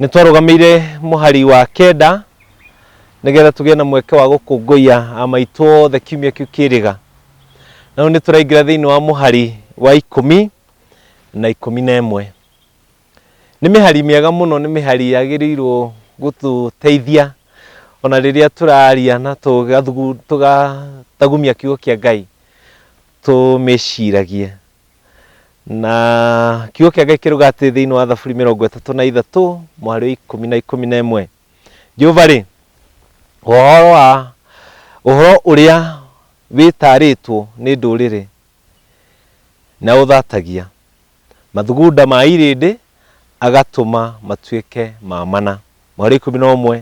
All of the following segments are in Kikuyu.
Nĩ twarũgamĩire mũhari wa kenda nĩgetha tũgĩe na mweke wa gũkũngũiya a maitũ othe kiumia kĩu kĩrĩga. Na rĩu nĩ tũraingĩra thĩinĩ wa mũhari wa ikũmi na ikũmi na ĩmwe. Nĩ mĩhari mĩega mũno, nĩ mĩhari yagĩrĩirwo gũtũteithia ona rĩrĩa tũraria na tũgathugu- tũgatagumia kiugo kĩa Ngai tũmĩciragie. Na kiugo kĩa Ngai kĩruga atĩ thĩinĩ wa Thaburi mĩrongo ĩtatũ na ithatũ mũhari wa ikũmi na ikũmi na ĩmwe Jehova-rĩ, ũhoro wa ũhoro ũrĩa wĩtaarĩtwo nĩ ndũrĩrĩ na ũthatagia mathugunda ma irĩndĩ agatũma matuĩke ma mana. Mũhari wa ikũmi na ũmwe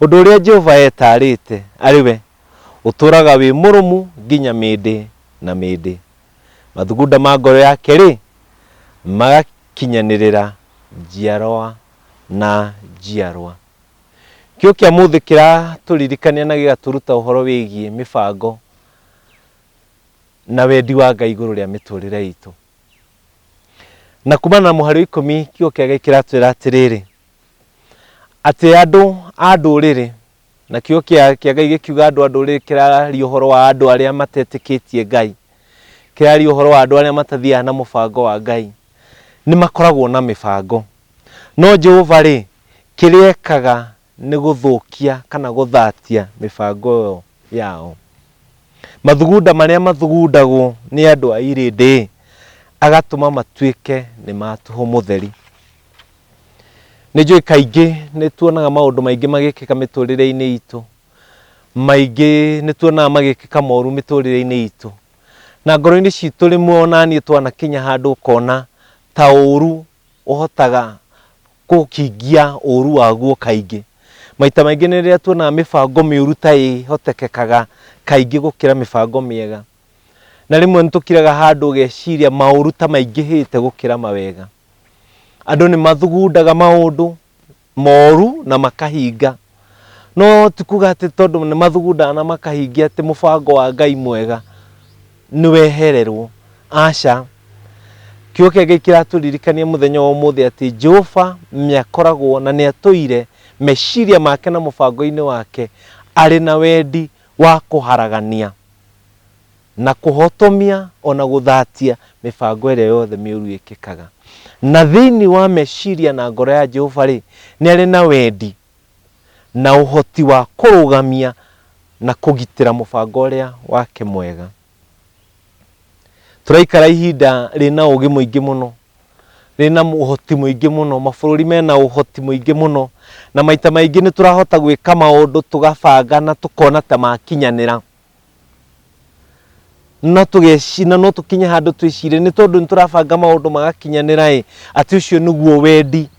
ũndũ ũrĩa Jehova etaarĩte arĩ we ũtũũraga wĩ mũrũmu nginya mĩndĩ na mĩndĩ. Mathugunda ma ngoro yake-rĩ, magakinyanĩrĩra njiarwa na njiarwa. Kiugo kĩa mũthĩ kĩratũririkania na gĩgatũruta ũhoro wĩgiĩ mĩbango na wendi wa Ngai igũrũ rĩa mĩtũrĩre itũ. Na kumana na mũhari wa ikũmi, kiugo kĩa Ngai kĩratwĩra atĩrĩrĩ, atĩ andũ a ndũrĩrĩ Nakĩo kĩa, kĩa Ngai gĩkiuga andũ a ndũrĩrĩ kĩrararia ũhoro wa andũ arĩa matetĩkĩtie Ngai. Kĩrararia ũhoro wa andũ arĩa matathiaga na mũbango wa Ngai. Nĩ makoragwo na mĩbango. No Jehova rĩ, kĩrĩa ekaga nĩ gũthũkia kana gũthatia mĩbango ĩyo yao. Mathugunda marĩa mathugundagwo nĩ andũ a irĩndĩ, agatũma matuĩke nĩ ma tũhũ mũtheri. Nĩ njũĩ kaingĩ nĩ tuonaga maũndũ maingĩ magĩkĩka mĩtũrĩre-inĩ itũ, maingĩ nĩ tuonaga magĩkĩka moru mĩtũrĩre-inĩ itũ, na ngoro-inĩ citũ rĩmwe onaniĩ twanakinya handũ ũkona ta ũru ũhotaga gũkĩngia ũru waguo kaingĩ. Maita maingĩ nĩ rĩrĩa tuonaga mĩbango mĩũru ta ĩhotekekaga kaingĩ gũkĩra mĩbango mĩega. Na rĩmwe nĩ tũkiraga handũ ũgeciria maũru ta maingĩhĩte gũkĩra mawega. Andũ nĩ mathugundaga maũndũ moru na makahinga. No ti kuga atĩ tondũ nĩ mathugundaga na makahingia atĩ mũbango wa Ngai mwega nĩ wehererwo. Aca. Kiugo kĩa Ngai kĩratũririkania mũthenya wa ũmũthĩ atĩ Jehova nĩ akoragwo na nĩ atũire meciria make na mũbango-inĩ wake arĩ na wendi wa kũharagania. na kũhotomia o na gũthatia mĩbango ĩrĩa yothe mĩũru ĩkĩkaga. Na thĩinĩ wa meciria na ngoro ya Jehova-rĩ, nĩ arĩ na wendi na ũhoti wa kũrũgamia na kũgitĩra mũbango ũrĩa wake mwega. Tũraikara ihinda rĩna ũũgĩ mũingĩ mũno, rĩna ũhoti mũingĩ mũno, mabũrũri mena ũhoti mũingĩ mũno, na maita maingĩ nĩ tũrahota gwĩka maũndũ tũgabanga na tũkona ta makinyanĩra. no tũgecina no tũkinye handũ twĩcire nĩ tondũ nĩ tũrabanga maũndũ magakinyanĩra ĩ atĩ ũcio nĩguo wendi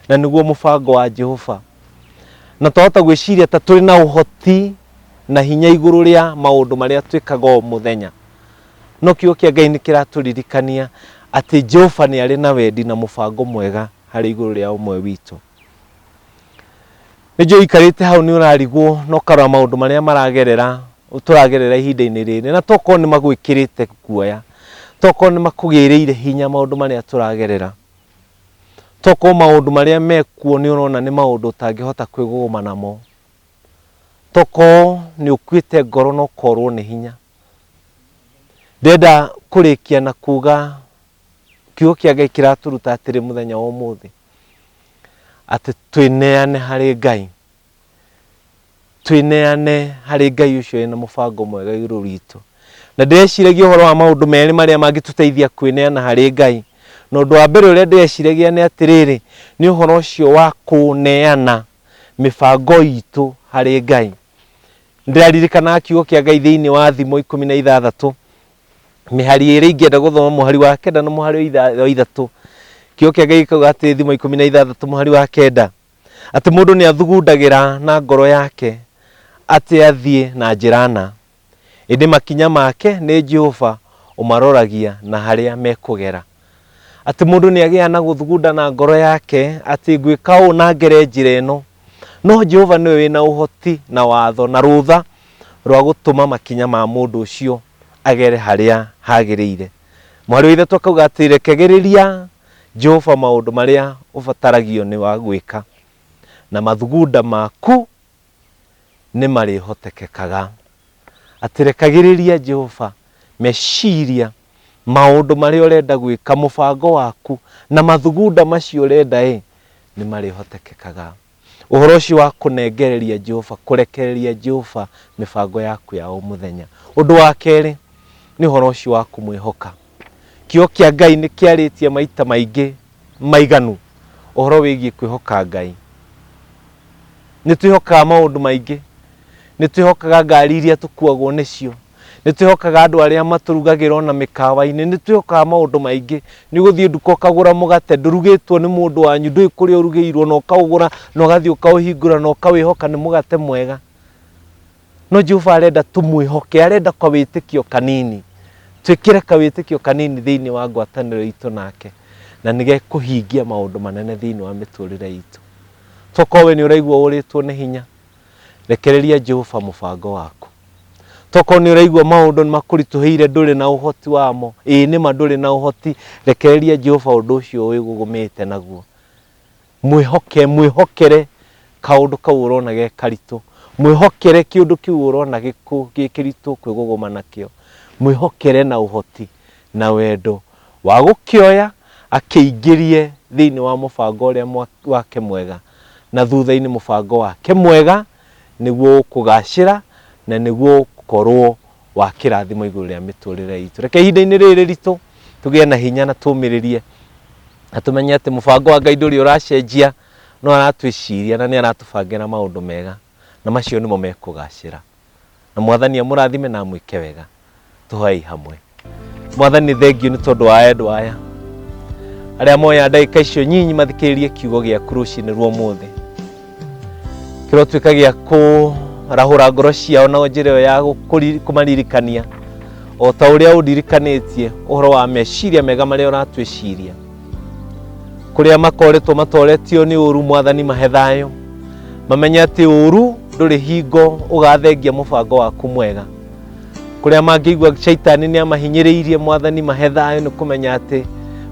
na nĩguo mũbango wa jehova na twahota gwĩciria ta tũrĩ na ũhoti na hinya igũrũ rĩa maũndũ marĩa twĩkaga o mũthenya no kiugo kĩa ngai nĩ kĩratũririkania atĩ jehova nĩ arĩ na wendi na mũbango mwega harĩ igũrũ rĩa ũmwe witũ Nĩnjũĩ ũikarĩte hau nĩ ũrarigwo na ũkarora maũndũ marĩa maragerera tũragerera ihinda-inĩ rĩrĩ na tokorwo nĩ magwĩkĩrĩte guoya, tokorwo nĩ makũgĩrĩire hinya maũndũ marĩa tũragerera, tokorwo maũndũ marĩa mekuo nĩ ũrona nĩ maũndũ ũtangĩhota kwĩgũgũma namo, tokorwo nĩ ũkuĩte ngoro na ũkorwo nĩ hinya, ndĩrenda kũrĩkia na kuga kiugo kĩa ngai kĩratũruta atĩrĩ mũthenya wa ũmũthĩ atĩ twĩneane harĩ ngai twĩneane harĩ ngai ũcio ena mũbango mwega igũrũ witũ na ndĩreciragia ũhoro wa maũndũ merĩ marĩa mangĩtũteithia kwĩneana harĩ ngai na ũndũ wa mbere ũrĩa ndĩreciragia nĩ atĩrĩrĩ nĩ ũhoro ũcio wa kũneana mĩbango itũ harĩ ngai ndĩraririkana kiugo kĩa ngai thĩinĩ wa thimo ikũmi na ithathatũ mĩhari ĩrĩa ingĩenda gũthoma mũhari wa kenda na mũhari wa itha- wa ithatũ kĩo kĩake gĩkauga atĩ thimo ikũmi na ithathatũ mũhari wa kenda atĩ mũndũ nĩ athugundagĩra na ngoro yake atĩ athiĩ na njĩra na ĩndĩ makinya make nĩ jehova ũmaroragia na harĩa mekũgera Atĩ mũndũ nĩ agĩaga na gũthugunda na ngoro yake atĩ ngwĩka ũũ na ngere njĩra ĩno. No Jehova nĩwe wĩ na ũhoti na watho na rũtha rwa gũtũma makinya ma mũndũ ũcio agere harĩa hagĩrĩire. Mwarĩ wa Ithe tu akauga atĩ rekagĩrĩria Jehova maũndũ marĩa ũbataragio nĩ wa gwĩka na mathugunda maku nĩ marĩhotekekaga. Atĩ rekagĩrĩria Jehova meciria maũndũ marĩa ũrenda gwĩka, mũbango waku na mathugunda macio ũrenda ĩ, nĩ marĩhotekekaga. Ũhoro ũcio wa kũnengereria Jehova, kũrekereria Jehova mĩbango yaku ya o mũthenya. Ũndũ wa kerĩ, nĩ ũhoro ũcio wa kũmwĩhoka. Kiugo kĩa Ngai nĩ kĩarĩtie maita maingĩ maiganu ũhoro wĩgiĩ kwĩhoka Ngai. Nĩ twĩhokaga maũndũ maingĩ, nĩ twĩhokaga ngari iria tũkuagwo nĩcio, nĩ twĩhokaga andũ arĩa matũrugagĩra ona mĩkawa-inĩ, nĩ twĩhokaga maũndũ maingĩ. Nĩ ũgũthiĩ nduka ũkagũra mũgate ndũrugĩtwo nĩ mũndũ wanyu, ndũĩ kũrĩa ũrugĩirwo na ũkaũgũra na ũgathiĩ ũkaũhingũra na ũkawĩhoka nĩ mũgate mwega. no jehova arenda tũmwĩhoke arenda kawĩtĩkio kanini twĩkĩre kawĩtĩkio kanini thĩinĩ wa ngwatanĩro itũ nake na nĩ gekũhingia maũndũ manene thĩinĩ wa mĩtũrĩre itũ tokorwo we nĩ ũraigua ũrĩtwo nĩ hinya rekereria jehova mũbango waku tokorwo nĩ ũraigua maũndũ nĩ makũritũhĩire ndũrĩ na ũhoti wamo ĩĩ nĩma ndũrĩ na ũhoti rekereria jehova ũndũ ũcio wĩgũgũmĩte naguo Mwĩhoke, mwĩhokere kaũndũ kau ũrona ge karitũ. Mwĩhokere kĩũndũ kĩu ũrona gĩkũ- gĩ kĩritũ kwĩgũgũma nakĩo. Mwĩhokere na ũhoti na wendo wa gũkĩoya akĩingĩrie thĩinĩ wa mũbango ũrĩa mwa- wake mwega, na thutha-inĩ mũbango wake mwega nĩguo ũkũgacĩra na nĩguo ũkorwo wa kĩrathimo igũrũ rĩa mĩtũrĩre itũ reke ihinda-inĩ rĩrĩ rĩritũ tũgĩe na hinya na tũmĩrĩrie na tũmenye atĩ mũbango wa ngai ndũrĩ ũracenjia no aratwĩciria na nĩ aratũbangĩra maũndũ mega na macio nĩmo mekũgacĩra na mwathani amũrathime na amwĩke wega tũhoei hamwe mwathani thengiũ nĩ tondũ wa endwa aya arĩa moya ndagĩka icio nyinyi mathikĩrĩrie kiugo gĩaku rũcinĩ rwa ũmũthĩ kĩrotuĩka gĩa kũrahũra ngoro ciao na njĩra ĩyo ya gũkũri- kũmaririkania o ta ũrĩa ũndirikanĩtie ũhoro wa meciria mega marĩa ũratwĩciria kũrĩa makoretwo matoretio nĩ ũru mwathani mahe thayũ mamenye atĩ ũru ndũrĩ hingo ũgathengia mũbango waku mwega kũrĩa mangĩigua caitani nĩ amahinyĩrĩirie mwathani mahe thayũ nĩ kũmenya atĩ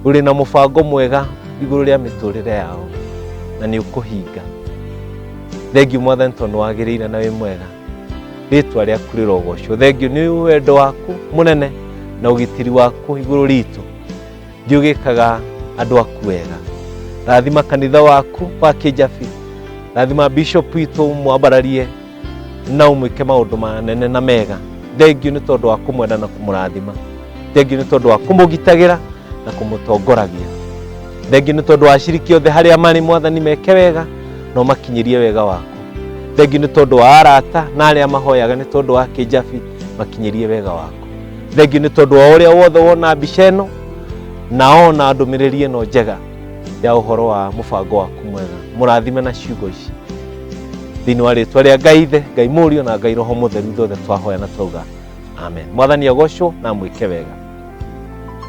ũrĩ na mũbango mwega igũrũ rĩa mĩtũrĩre yao na nĩ ũkũhinga thengiũ mwathani tondũ wagĩrĩire na wĩ mwega rĩtwa rĩaku rĩrogocwo thengiũ nĩ wendo waku mũnene na ũgitĩri waku igũrũ ritũ thiĩ ũgĩkaga andũ aku wega rathima kanitha waku wa kĩnjabi rathima bishop witũ mwambararie na ũmwĩke maũndũ manene na mega thengiũ nĩ tondũ wa kũmwenda na kũmũrathima thengiũ nĩ tondũ wa kũmũgitagĩra na kũmũtongoragia thengiũ nĩ tondũ wa aciriki othe harĩa marĩ mwathani meke wega na ũmakinyĩrie wega waku thengiũ nĩ tondũ wa arata na arĩa mahoyaga nĩ tondũ wa kĩnjabi makinyĩrie wega waku thengiũ nĩ tondũ wa ũrĩa wothe wona mbica ĩno na ona ndũmĩrĩri ĩno njega ya ũhoro wa mũbango waku mwega mũrathime na ciugo ici thĩinĩ wa rĩtwa rĩa ngai ithe ngai mũriũ na ngai roho mũtheru ithuothe twahoya na twauga amen mwathani agocwo na mwĩke wega